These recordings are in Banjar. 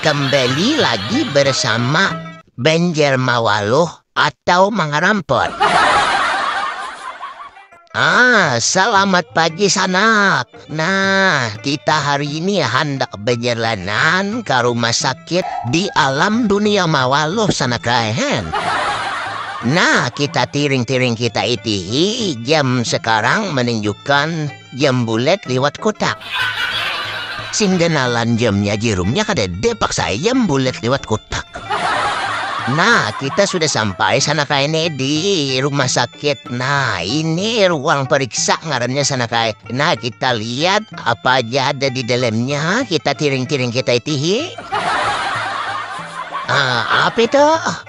kembali lagi bersama Banjar Mawaluh atau Mangarampot. Ah, selamat pagi sanak. Nah, kita hari ini handak bejalanan ke rumah sakit di alam dunia Mawaluh sanak rahen. Nah, kita tiring-tiring kita itihi jam sekarang menunjukkan Jam bulat liwat kutak. Sing ganalan jamnya jerumnya kada ada paksa ai jam bulat liwat kutak. Nah, kita sudah sampai sana kae nih di rumah sakit. Nah, ini ruang periksa ngarannya sana kae. Nah, kita lihat apa aja ada di dalamnya. Kita tiring-tiring kita itihi. Ah, apa itu?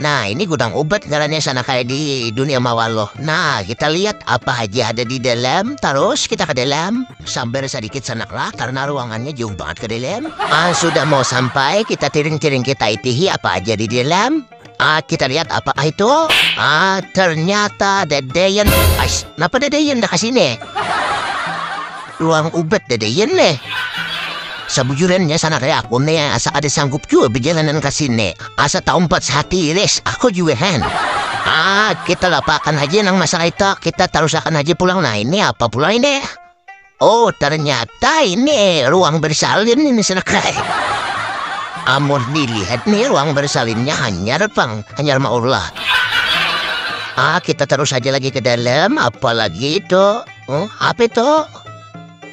Nah ini gudang obat ngarannya sana kayak di dunia mawaloh. Nah kita lihat apa aja ada di dalam, terus kita ke dalam. Sabar sedikit sanaklah karena ruangannya jauh banget ke dalam. Ah sudah mau sampai, kita tiring-tiring kita itihi apa aja di dalam. Ah kita lihat apa itu. Ah ternyata dedeyan. Ais, kenapa dedeyan dah kesini? Ruang obat dedeyan nih. Sebujurannya sana kayak aku nih asa ada sanggup juga berjalanan ke sini. Asa taumpat sahati Iris, aku jua han. Ah, kita lapaakan haja nang masalah itu, kita tarusakan haja pulang nah ini apa pula ini. Oh, ternyata ini ruang bersalin ini senakai. Amun dilihat nih ruang bersalinnya hanyar pang, hanyar ma Allah. Ah, kita terus aja lagi ke dalam, apalagi itu. Oh, apa itu?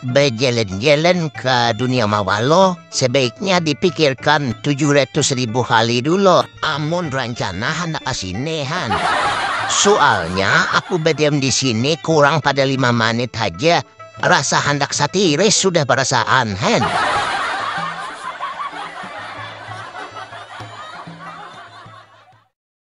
Bejalan-jalan ka dunia mawaloh, sebaiknya dipikirkan tujuh ratus ribu kali dulu amun rancana handak ka sini han. Sualnya aku badiam di sini kurang pada lima manit haja, rasa handak satiris sudah barasaan han.